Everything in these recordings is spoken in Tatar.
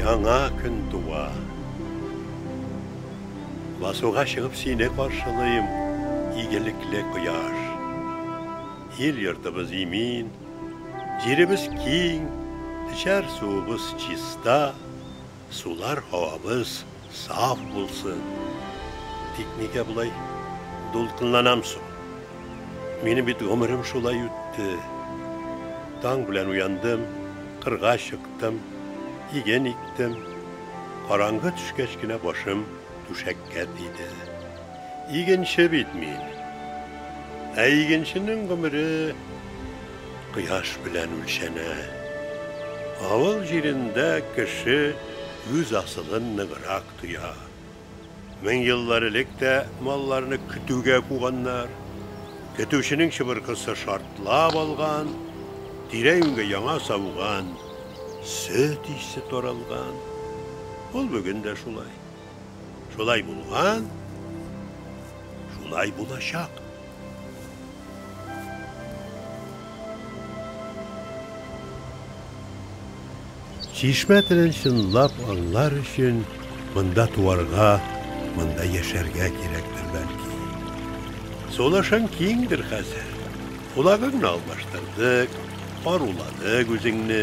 Яңа көн туа. Басуга чыгып сине каршылыйм, игелекле кояш. Ил йортыбыз имин, җиребез киң, эчәр суыбыз чиста. Сулар һавабыз саф булсын. Тик нигә болай дулкынланам соң? Минем бит гомерем шулай үтте. Таң белән уяндым, кырга чыктым, иген иктем. Караңгы төшкәч кенә башым түшәккә тиде. Игенче бит мин. Ә игенченең гомере. Кояш белән үлчәнә. Авыл җирендә кеше үз асылын ныграк тоя. Мең еллар элек тә малларны көтүгә куганнар. Көтүченең чыбыркысы шартлап алган, тирә-юньгә яңа сауган сөт исе таралган. Ул бүген дә шулай. Шулай булган, шулай булачак. Чишмә телен чынлап аңлар өчен монда туарга, монда яшәргә кирәктер бәлки. Сулышың киңдер хәзер. Кулагыңны алмаштырдык, каруладык үзеңне.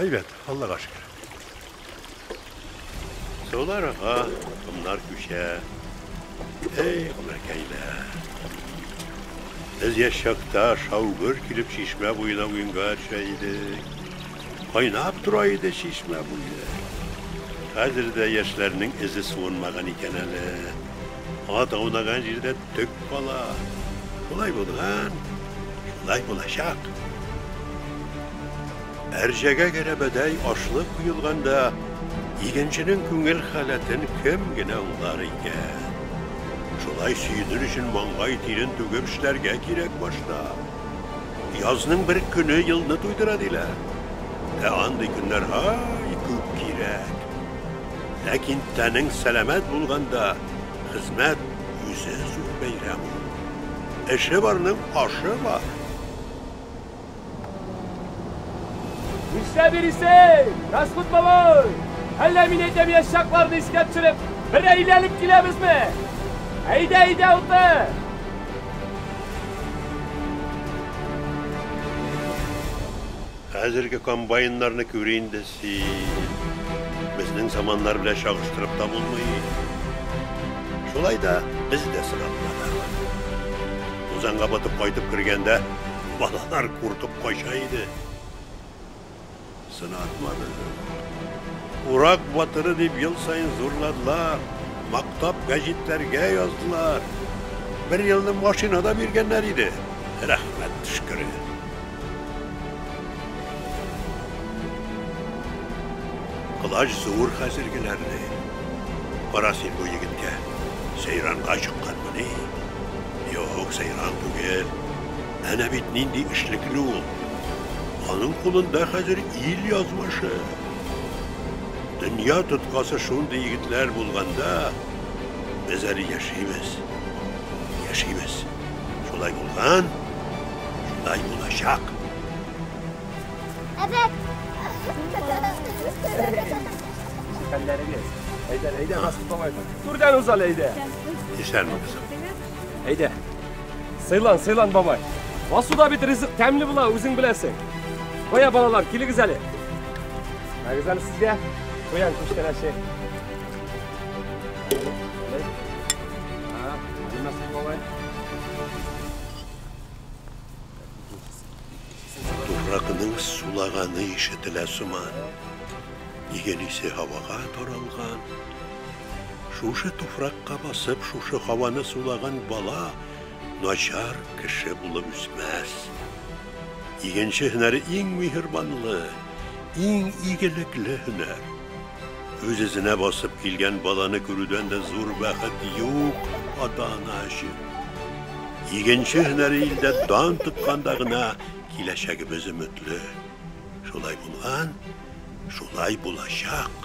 Әйбәт, Аллага шөкер. Сулар ага, комнар күчә. Эй, гомеркәйләр. Без яшь чакта шау-гөр килеп чишмә буена уенга төшә идек. Кайнап тора иде чишмә буе. Хәзер дә яшьләрнең эзе суынмаган икән әле. Ат аунаган җирдә Төп бала, шулай булган, шулай булачак. Әрҗәгә гәрәбәдәй ашлык куелганда, игенченең күңел халәтен кем генә аңлар икән? Шулай сөенер өчен маңгай тирен түгеп эшләргә кирәк башта. Язның бер көне елны туйдыра диләр. Ә андый көннәр һай күп кирәк. Ләкин тәнең сәламәт булганда, хезмәт Үзе зур бәйрәм ул. Эше барның ашы бар. Нишләп йөрисең, Раскут бабай? Әллә мин әйтәм яшь чакларны искә төшереп, бер әйләнеп киләбезме? Әйдә, әйдә, утны! Хәзерге комбайннарны күр инде. Һи, безнең заманнар белән чагыштырып та булмый. Шулай да без дә сынатмадык. Тузанга батып кайтып кергәндә, балалар куркып кача иде. Сынатмадык. Урак батыры дип ел саен зурладылар, мактап гәҗитләргә яздылар. Бер елны машина да биргәннәр иде, рәхмәт төшкере. Колач зур хәзергеләрне. Кара син бу егеткә, сәйранга чыкканмыни? Юк, сәйран түгел. Әнә бит нинди эшлекле ул. Аның кулында хәзер ил язмышы. Дөнья тоткасы шундый егетләр булганда, без әле яшибез. Яшибез. Шулай булган, шулай булачак. Әбәк! Хәлләрегез. Әйдә, әйдә, Расул бабай. Түрдән узал, әйдә. Исәнме, кызым. Әйдә. Сыйлан, сыйлан, бабай. Васуда бит ризык тәмле була, үзең беләсең. Кая балалар, килегез әле. Мәгез әле сезгә. Куян күчтәнәче. Туфракның сулаганы ишетелә сыман. Иген исе һавага таралган. Шушы туфракка басып, шушы һаваны сулаган бала начар кеше булып үсмәс. Игенче һөнәре иң миһербанлы, иң игелекле һөнәр. Үз-үзенә басып килгән баланы күрүдән дә зур бәхет юк ата-ана өчен. Игенче һөнәре илдә дан тотканда гына киләчәгебез өметле. Шулай булган, шулай булачак.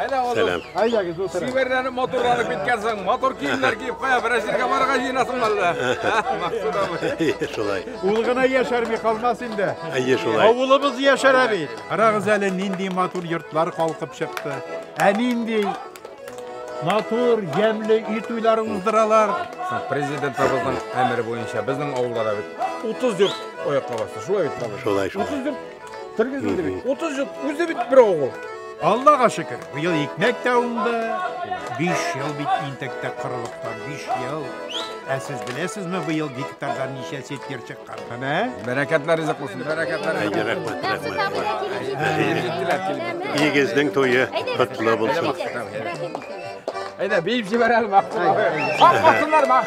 Әнә ул. Сәлам. Әйдәгез утырыгыз. Сиберләнеп моторланып киткәнсең. Мотор киемнәр киеп кая берәр җиргә барырга җыенасың әллә? Максут абый. Шулай. Ул гына яшәрми калмас инде. Әйе, шулай. Авылыбыз яшәрә бит. Карагыз әле нинди матур йортлар калкып чыкты. Ә нинди матур, ямьле үй туйлары уздыралар. Президентыбызның әмере буенча безнең авылда да бит 30 йорт оякка басты. Шулай бит, Шулай, шулай. 30 йорт Тергезелде бит. 30 ел үзе бит бер авыл. Аллага шөкер, быел икмәк тә уңды. 5 ел бит интектә корылыктан 5 ел. Ә сез беләсезме, быел гектардан ничә сетер чыккан? Менә. Бәрәкәтләр ризык булсын. Бәрәкәтләр. Рәхмәт, рәхмәт. Игезнең туе котлы булсын. Әйдә, биеп җибәрәле мактау. Хак хатыннар мак.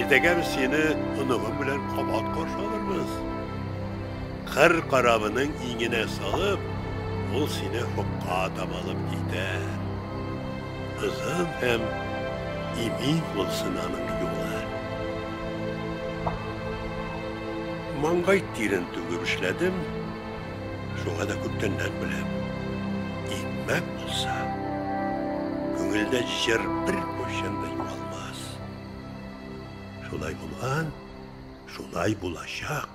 Иртәгә без сине оныгым белән кабат каршы алырбыз. Кыр карабының иңенә салып, ул сине хокка таба алып китәр. Озын һәм имин булсын аның юлы. Маңгай тирен түгеп эшләдем. Шуңа да күптәннән беләм. Икмәк булса, күңелдә җыр бер курчын да югалмас. Шулай булган, шулай булачак.